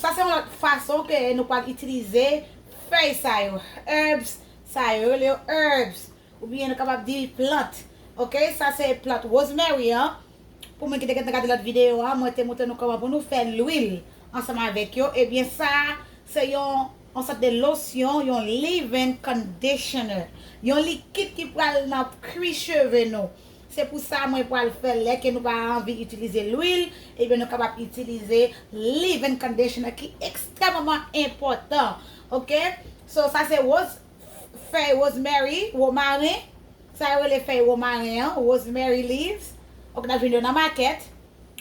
Sa se yon lòt fason ke nou pral itilize fèy sa yo, herbs sa yo, yo rele yo herbs oubyen nou kapab di plant ok, sa se plant rosemary an, pou moun ki te gentan gade lòt videyo a mwen te montre nou kòman pou nou fè lwil ansanm avèk yo, ebyen sa se yon sòt de losyon, yon leave-in conditioner, yon likid ki pral nan kwi cheve nou. Se pou sa mwen pwal fè lè ke nou pa anvi itilize lwil, ebyen nou kapab itilize leave-in conditioner ki ekstrèmaman enpòtan ok. So sa se woz fèy rosemary, romaren, sa yo rele fèy romaren an, rosemary leaves ok nap jwenn yo nan makèt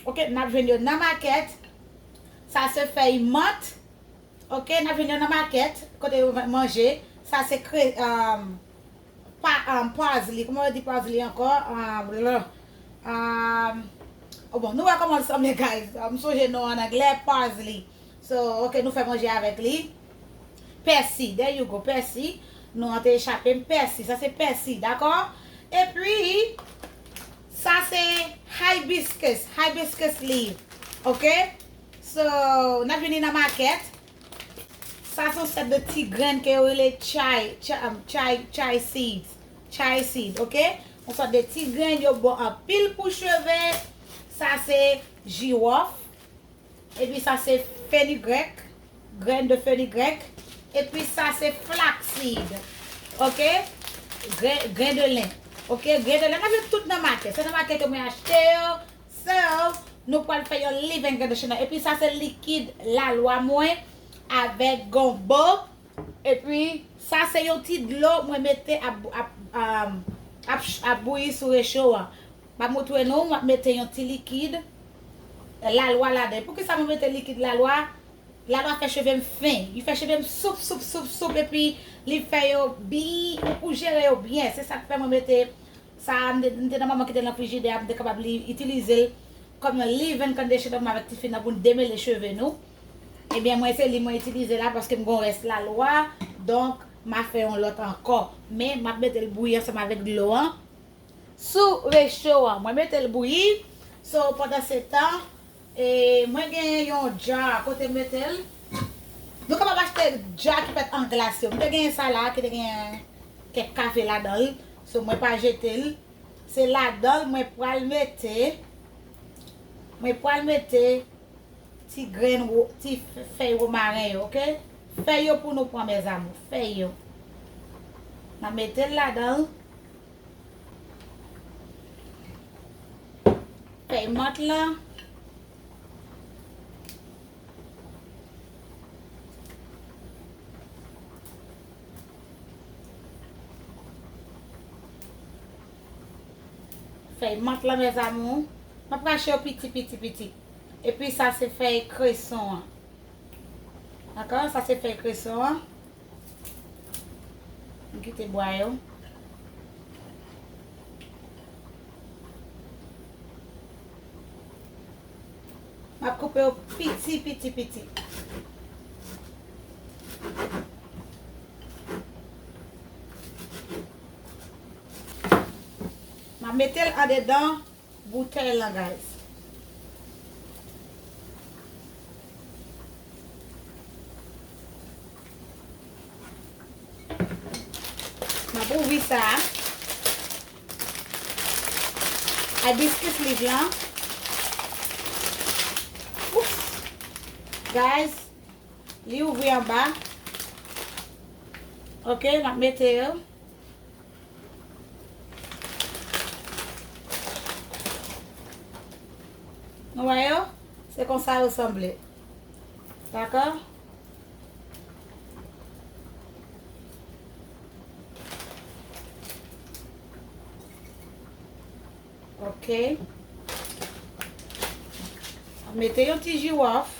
ok nap jwenn yo nan makèt, sa se fèy mant ok nap jwenn yo nan makèt kote yo vann manje, sa se kre. Pazli kouman yo di pazli ankò Bon bon nou wè kòman l sanble guys m sonje non an anglè pazli So ok nou fè manje avèk li Pèsi there you go pèsi Non an te echape m pèsi sa se pèsi dakò Epi sa se hibiscus hibiscus leaf ok So n ap vini nan makèt Sa son sèt de ti grenn ke yo rele chay, chay, chay seeds. Chay seeds, ok. Yon sòt de ti grenn yo bon anpil pou cheve. Sa se jiwòf. E pi sa se fenigrèk. Grenn de fenigrèk. E pi sa se flax seed. Ok. Grenn de len. Ok. Grenn de len. Mwen jwenn tout nan makèt. Se nan makèt yo mwen achte yo. Serve, Nou pral fè yon leaven traditional epi sa se likid lalwa mwen avèk gonbo epi sa se yon ti dlo mwen mete ap bouyi sou recho an. Map moutre nou, map mete yon ti likid lalwa ladan. Poukisa mwen mete likid lalwa? Lalwa fè chevem fen, li fè chevem soup soup soup soup epi li fè yo byen pou jere yo byen se sak fè mwen mete Sa a, m te di, m te nan moman ki te nan frijidè a, m te kapab li, itilize l kòm yon leave-in conditioner mwen avèk tifi nan pou n demele cheve nou. Ebyen, mwen se li mwen itilize la paske m gen yon rès lalwa, donk m a fè yon lòt ankò. Men, m ap mete l bouyi ansanm avèk dlo an sou recho an. Mwen mete l bouyi, so pandansetan, E mwen gen yon jar kote m metel. Nou kapab achte jar ki fèt an glas yo. M te gen sa la ki te gen kèk kafe ladanl. So mwen pa jetel. Se ladanl mwen pral mete mwen pral mete ti grenn ti fèy romaren yo ok. Fèy yo pou nou pran mes amour. Fèy yo. Nan metel ladanl. Fèy mant la. Fèy mant la mes amour. Map rache yo piti piti piti. E pi sa se fèy kreson an. Dakò, sa se fèy kreson an. M kite bwa yo. M ap koupe yo piti piti piti. M ap mete l andedan. boutèy lan guys. Map ouvri sa. Hibiscus leaf lan. Oups. Guys. Li ouvri anba. Ok, map mete yo. Nou wè yo? Se konsa yo sanble. Dakò? Ok. Mwen mete yon ti jiwòf.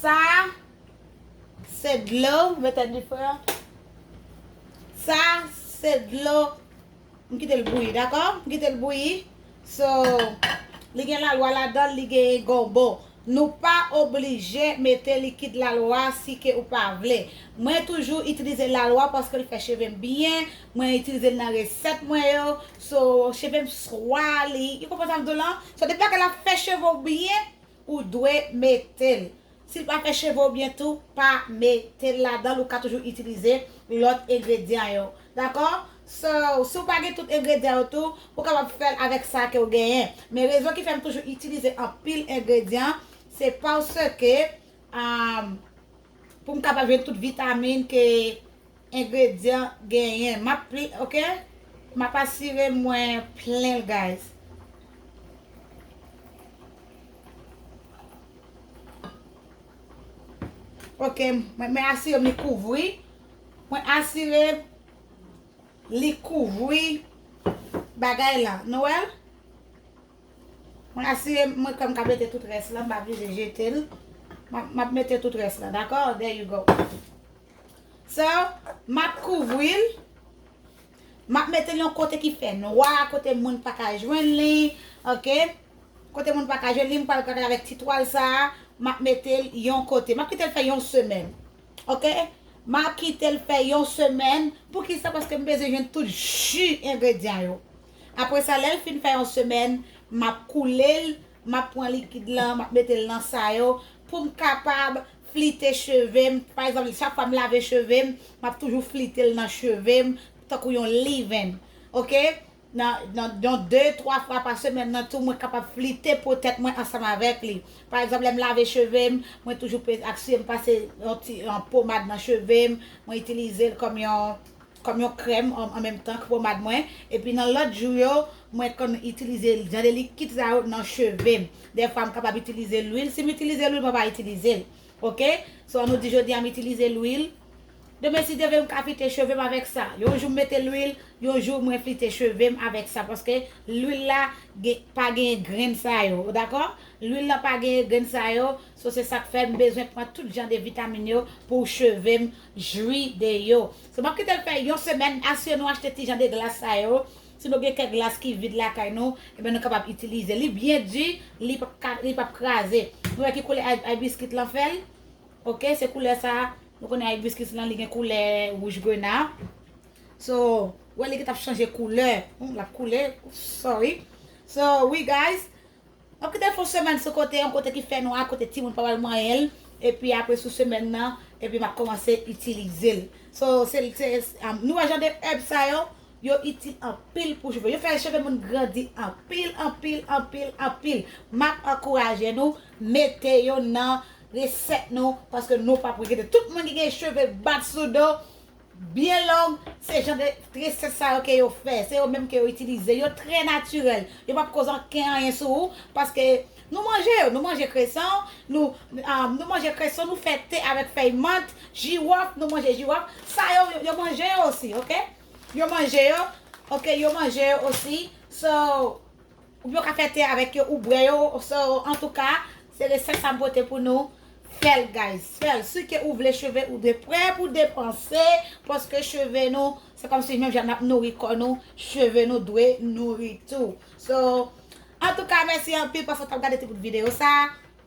Sa a se dlo mete dife a. Sa a se dlo m kite l bouyi dakò. M kite l bouyi. So li gen lalwa ladan l, li gen gombo. Nou pa oblije mete likid lalwa si ke ou pa vle. Mwen toujou itilize lalwa paske l fè cheve m byen. Mwen itilize l nan resèt mwen yo. So cheve m swa li. Ou konprann sa m di w lan? So depi lè ke l ap fè cheve w byen. Ou dwe mete l. Si l pa fè cheve w byen tou, pa mete l ladan l, ou ka toujou itilize lòt engredyan yo. Dakò? So, si w pa gen tout engredyan yo tou, ou kapab fè l avèk sa ke w genyen. Men rezon ki fè m toujou itilize anpil engredyan, se paske, pou m kapab jwenn tout vitamin ke. Ingredyan genyen map li ok map asire mwen plenl guys. Ok mwen asirem li kouvri mwen asirem li kouvri bagay la nou wèl mwen asirem mwen kwèm ka mete tout rès la mpa bliye jetel map mete tout rès la dakò there you go. So, m ap kouvri l. M ap mete l yon kote ki fè nwa, kote moun pa ka jwenn li. Ok. Kote moun pa ka jwenn li, m pral travay avèk ti twal sa a. M ap mete l yon kote. M ap kite l fè yon semèn. Ok. M ap kite l fè yon semèn. Poukisa? Paske m bezwen jwenn tout ji engredyan yo. Apre sa, lè l fin fè yon semèn, m ap koule l m ap pran likid lan, m ap mete l nan sa yo pou m kapab flite cheve m. Pa egzanp, chak fwa m lave cheve m, m ap toujou flite l nan cheve m tankou yon leave-in. Ok? Nan yon de, twa fwa pa semèn nan tou, mwen kapab flite po tèt mwen ansanm avèk li. Pa egzanp, lè m lave cheve m, mwen toujou asire m pase yon ti pomad nan cheve m, mwen itilize l kòm yon. Kòm yon krèm an menm tan k pomad mwen epi nan lòt jou yo mwen konn itilize jan de likid sa yo nan cheve m dèfwa m kapab itilize lwil si m itilize lwil mwen pa itilize l ok so an nou di jodi a m itilize lwil demen si Dye vle m ka flite cheve m avèk sa yon jou m mete lwil yon jou mwen flite cheve m avèk sa paske lwil la gen pa genyen grenn sa yo ou dakò lwil la pa genyen grenn sa yo so se sa k fè m bezwen pran tout jan de vitamin yo pou cheve m Jwi de yo. So map kitel fè yon semèn asire nou achte ti jan de glas sa yo, si nou gen kèk glas ki vid lakay nou ebyen nou kapab itilize li byen di li pap ka li pap kraze nou wè ki koulè Hibiscus lan fèl ok se koulè sa nou konnen Hibiscus lan li gen koulè wouj grenat so wè li gentan ap chanje koulè lap koule sorry so wi guys Map kite l fon semèn sou kote yon kote ki fè nwa kote timoun pa pral manyen l epi apre sou semèn nan epi map kòmanse itilize l so se nou wè jan de èb sa yo yo itil anpil pou cheve yo fè cheve moun grandi anpil anpil anpil anpil map ankouraje nou mete yo nan resèt nou paske nou pap regrete tout moun ki gen cheve bat sou do. byen long, se jan de tresèt sa yo ke yo fè, se yo menm ke yo itilize, yo trè natirèl, yo pap koz anken anyen sou ou, paske nou manje yo, nou manje kreson, nou nou manje kreson, nou fè te avèk fèy mant, jiwòf, nou manje jiwòf, sa yo, yo manje yo osi ok, yo manje yo ok, yo manje yo osi, so. Ou byen ou ka fè te avèk yo ou bwè yo so antouka se resèt sa m pote pou nou fèl guys fèl si ke ou vle cheve ou dwe prè pou depanse paske cheve nou se kòmsi menm jan nap nouri kò nou cheve nou dwe nouri tou so antouka mèsi anpil paske w tap gade ti bout videyo sa.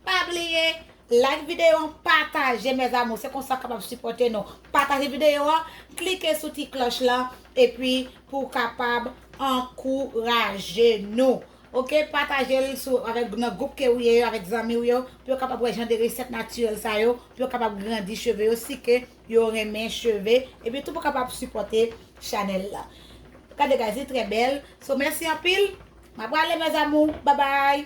Pa bliye like video an pataje mes amours se konsa kapab sipote nou pataje video an klike sou ti kloch lan epi pou kapab ankouraje nou ok patajel sou avek nan group ke ou ye yo avek zanmi ou yo pou yo kapab wè jan de reset naturel sa yo pou yo kapab grandi cheve yo si ke yo renmen cheve epi tou pou kapab sipote chanel la gade guys li trè bèl so mèsi anpil ma prale mes amours babay.